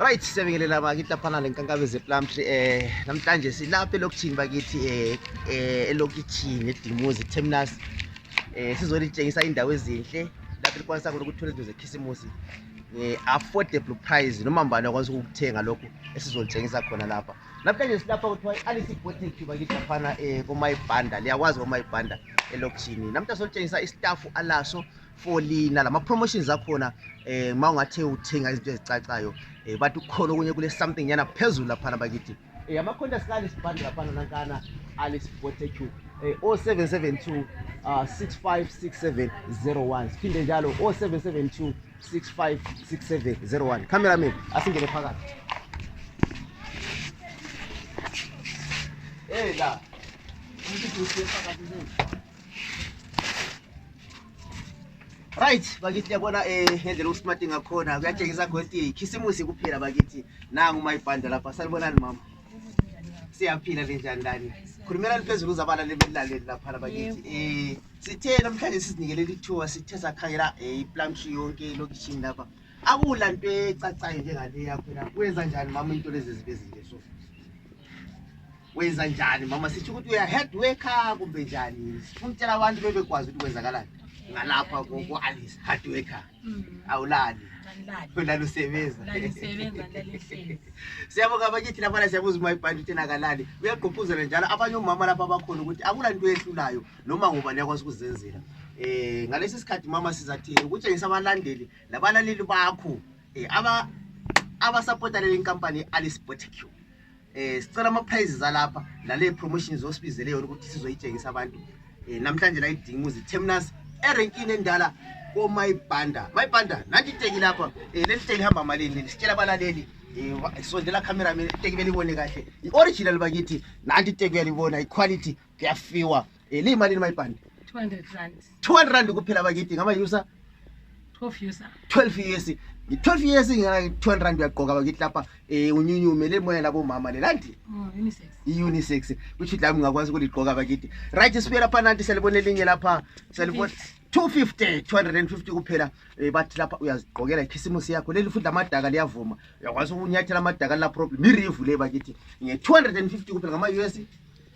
Right, siyabingelela bakithi lapha nale nkankabe zePlum Tree eh namhlanje silapha elokishini bakithi eh, eh elokishini eDimuzi Terminus eh sizolitshengisa indawo ezinhle lapho likwanisa khona ukuthola izinto zekhisimusi nge-affordable price noma mbani akwanisa ukukuthenga lokhu esizolitshengisa khona lapha Namhlanje silapha kuthiwa i-Alice Boating Club bakithi laphana um eh, komayibhanda liyakwazi komayibhanda elokishini namhlanje solitshengisa istafu alaso for lina lama-promotions akhona um eh, ma ungathe uthenga izinto ezicacayo um bathi kukhona okunye kule something nyana phezulu laphana bakithi um amakhonta sika-alice bhanda laphana nankana alice botecu um o seven seven two um six five six seven zero one siphinde njalo o seven seven two 656701 cameraman asingene phakathi hey la right bakithi yabona um eh, ngendlela usmarti ngakhona kuyatshengisa ukuthi khisimusi kuphela bakithi nangu mayibhanda lapha salibonani mama siyaphila linjani lani khulumelani phezulu uzabalaleli belilaleli laphana bakithi um Sithe namhlanje sizinikele lithiwa sithe sakhangela eh, iplamshi yonke elokishini lapha akula nto ecacayo njengale yakho la wenza njani mama into lezi zibe zinje so wenza njani mama sitsho ukuthi uya head worker kumbe njani sifuna ukutshela abantu bebekwazi ukuthi kwenzakalani ngalapha ku-alice hard worker mm. awulali ulalusebenza siyabonga abakithi labana siyabuza uma ibhanti uthenakalali uyagqugquzela njalo abanye omama lapha abakhona ukuthi akula nto ehlulayo noma ngubani yakwazi ukuzenzela um ngalesi sikhathi mama sizathi ukutshengisa abalandeli labalaleli bakho um abasapota leli nkampani i-alice botic um eh, sicela ama-prizes alapha lale promotions osibizele yona ukuthi sizoyitshengisa abantu um namhlanje la idinguzi terminus erenkini endala komayibanda mayibanda nanti iteki lapha um leli teki hamba malini sitshela abalaleli um sondela cameraman iteki belibone kahle i-original bakithi nanti iteki uyalibona iquality kuyafiwa Eh, liyimalini mayibhande 200 rand 200 rand kuphela bakithi ngama-user 12 user 12 years ngi-12 years ngi-200 rand uyagqoka bakithi lapha um unyunyume le moya labomama lelandi oh, unisex i-unisex kusho ukuthi lami ngingakwazi ukuligqoka bakithi right sibuye lapha nanti siyalibona elinye lapha siyalibona 250 250 kuphela um bathi lapha uyazigqokela ikhisimusi yakho leli futhi lamadaka liyavuma uyakwazi ukunyathela amadaka lila problem irivu le bakithi nge-250 kuphela ngama-us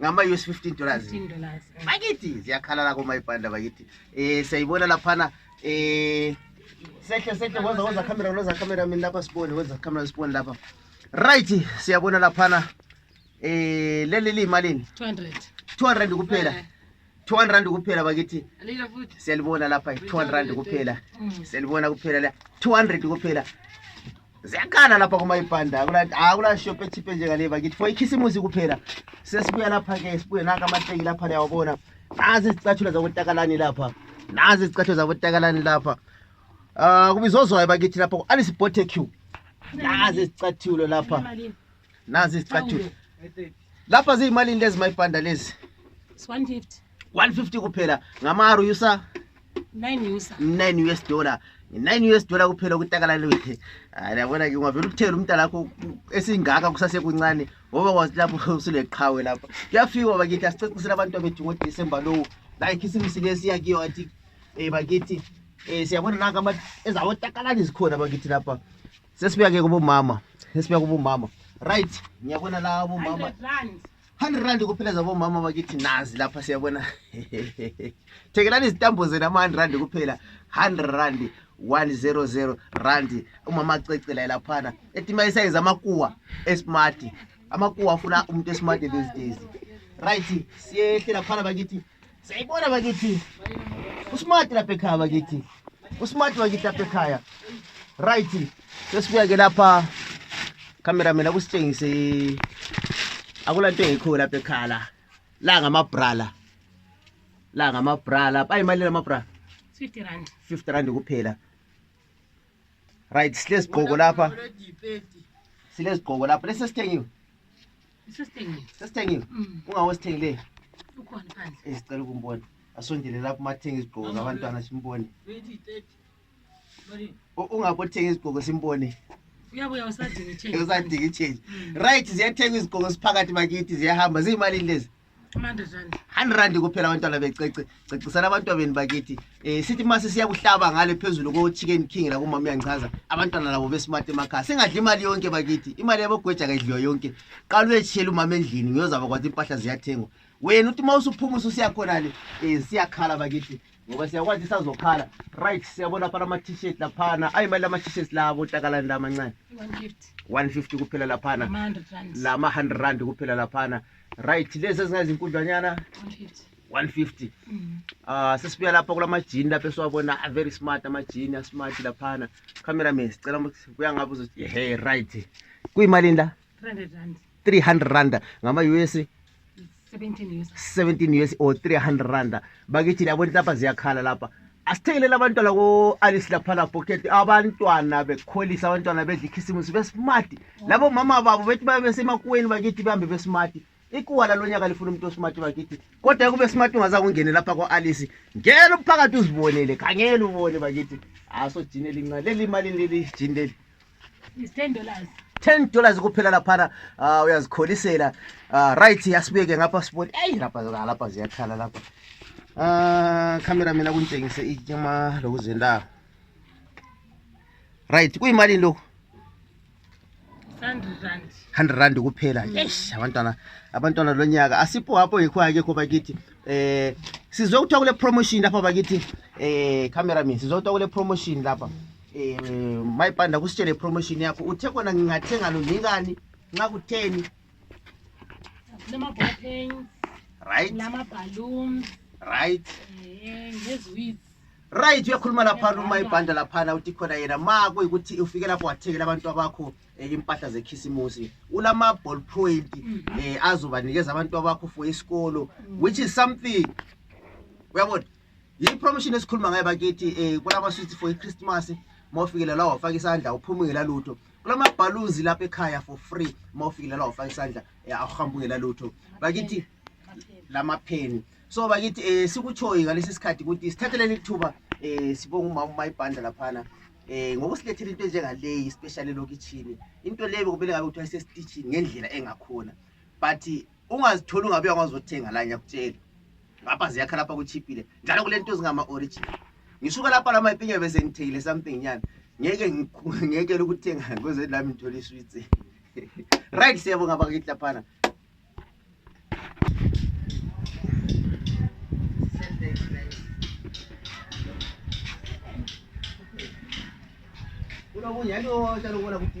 ngama us 15 dollars bakithi ziyakhalala komayibhanda bakithi um siyayibona laphana um sehle sehle woza woza camera loza camera mini lapha sibone woza camera sibone lapha right siyabona laphana um leli liyimalini 200 200 kuphela 200 rand kuphela bakithi siyalibona lapha 200 rand kuphela mm. siyalibona kuphela la 200 kuphela ziyakhala lapha kumayibhanda akula shop echiphe njengale bakithi for ikhisimusi kuphela sesibuya lapha-ke sibuye naka amateki lapha liyawabona nazi izicathulo zabotakalani lapha nazi izicathulo zabotakalani lapha um kubizozwayo bakithi lapha ku-alice botecu nazi izicathulo lapha nazi izicathulo lapha ziyimalini lezi mayibhanda lezi 150 150 kuphela ngamaru usa 9 usa 9 us dollar nine us dollar kuphela ukutakalaliwe hayi yabona ke ungavele ukuthela umntana akho esingaka kusasekuncane ngoba kwazi lapho usuleqhawe lapha kuyafikwa bakithi asicacisele abantu abethu ngodisemba lowo la ikhisimisi lesiya kiyo athi um bakithi um siyabona naka ezawotakalani zikhona bakithi lapha sesibuya ke kubomama sesibuya kubomama right ngiyabona la abomama 100 rand kuphela zabomama bakithi nazi lapha siyabona thekelani izitambo zenu ama-100 rand kuphela 100 rand 100 rand umama acecela laphana etima isayiza amakuwa esmart amakuwa afuna umuntu esmart these days right siyehle laphana bakithi Sayibona bakithi. Usmart lapha ekhaya bakithi. Usmart bakithi lapha ekhaya. Right. Sesibuya ke lapha cameraman akusitshengise akula nto engikho lapha ekhaya la. La ngamabrala. La ngamabrala. Bayi imali lamabrala. 50 rand. 50 rand kuphela. Right, silezigqoko lapha. Silezigqoko lapha. Lesi sithengiwe. Sesithengile. Sesithengile. Mm. Ungawo sithengileyo. Ukhona phandle. Eh sicela ukumbona. Asondele lapho mathenga izigqoko zabantwana simbone. Ungapho thenga izigqoko simbone. Uyabuya usadinga i-change. Usadinga i-change. Mm. Right ziyathenga izigqoko siphakathi bakithi ziyahamba ziyimali lezi. 100 rand kuphela abantwana becece cecisana abantwabeni bakithi um sithi ma sisiyakuhlaba ngale phezulu ko-chicken king lakumama uyangichaza abantwana labo besmart emakhaya singadli imali yonke bakithi imali yabogweja kayidliwa yonke qala uyetshiyela umama endlini ngiyozaba kwathi impahla ziyathengwa wena uthi uma usuphuma ususiyakhona le um siyakhala bakithi ngoba siyakwazi isazokhala right siyabona phana ama-t-shirt laphana ayi mali lama-t-shirt labo takalani la amancane 150 kuphela laphana lama-100 rand kuphela laphana la right lezi ezingazinkundlanyana 150 mm. ah sesibuya lapha kulamajini lapha esiwabona a very smart amajini a smart laphana cameraman sicela buya ngabe uzothi hey right kuyimalini la 300 rand 300 rand ngama US 17 US 17 US or 300 rand bakithi labona lapha ziyakhala lapha asithengelele abantwana ko-alice laphala boketi abantwana bekholisa abantwana bedla ikhisimusi besimati labo mama babo bethi babe besemakuweni bakithi behambe besimati ikuwa lalo nyaka lifuna umuntu osimati bakithi kodwa kube simati ungaza kungene lapha ko-alice ngena umphakathi uzibonele khangela ubone bakithi asojini elincane leli imali leli jini leli It's 10 dollars. 10 dollars kuphela laphana uh, uyazikholisela uh, right yasibeke ngapha sibone eyi lapha lapha ziyakhala lapha uh, camera mina kuntshengise ityama lokuzendako right kuyimalini lokhu 100 rand kuphela mm. eish abantwana abantwana lo nyaka asipho hapho ngikho akekho bakithi eh sizokuthiwa kule promotion lapha bakithi eh cameraman sizokuthiwa kule promotion lapha Eh, mai panda kusitele promotion yako uthe kona ngingathenga lo ngingani nxa kutheni lama bottles right lama balloons right eh ngeziwits right uyakhuluma lapha luma ibhanda laphana uthi khona yena ma kuyikuthi ufike lapho wathekela abantu abakho eh, impahla zekhisimusi ulama ball point mm. eh azobanikeza abantu abakho for isikolo mm. which is something uyabona yipromotion esikhuluma ngayo bakithi um kulama-sweets for ichristmas ma ufikile la wafaka isandla uphuma ungela lutho kulamabhalunzi lapha ekhaya for free ma ufikile la wafaka isandla um awuhambi ungela lutho bakithi lamapheni so bakithi um sikutshoyi ngalesi sikhathi ukuthi sithatheleni ithuba um sibonga umama umayibhandla laphana eh ngokusilethela into enjengaleyi especially lokitshini into leyo bekumele ngabe kuthiwa isesititshini ngendlela engakhona but ungazitholi ungabuya ngazothenga la ngiyakutshela ngapha ziyakha lapha kuchiphile njalo kulento zingama original ngisuka lapha lama ipinyo bese ngithekile something nyana ngeke ngeke ukuthenga ngoze lami ngithole isweets right siyabonga bakithi laphana unokunya ndo chalobona kuti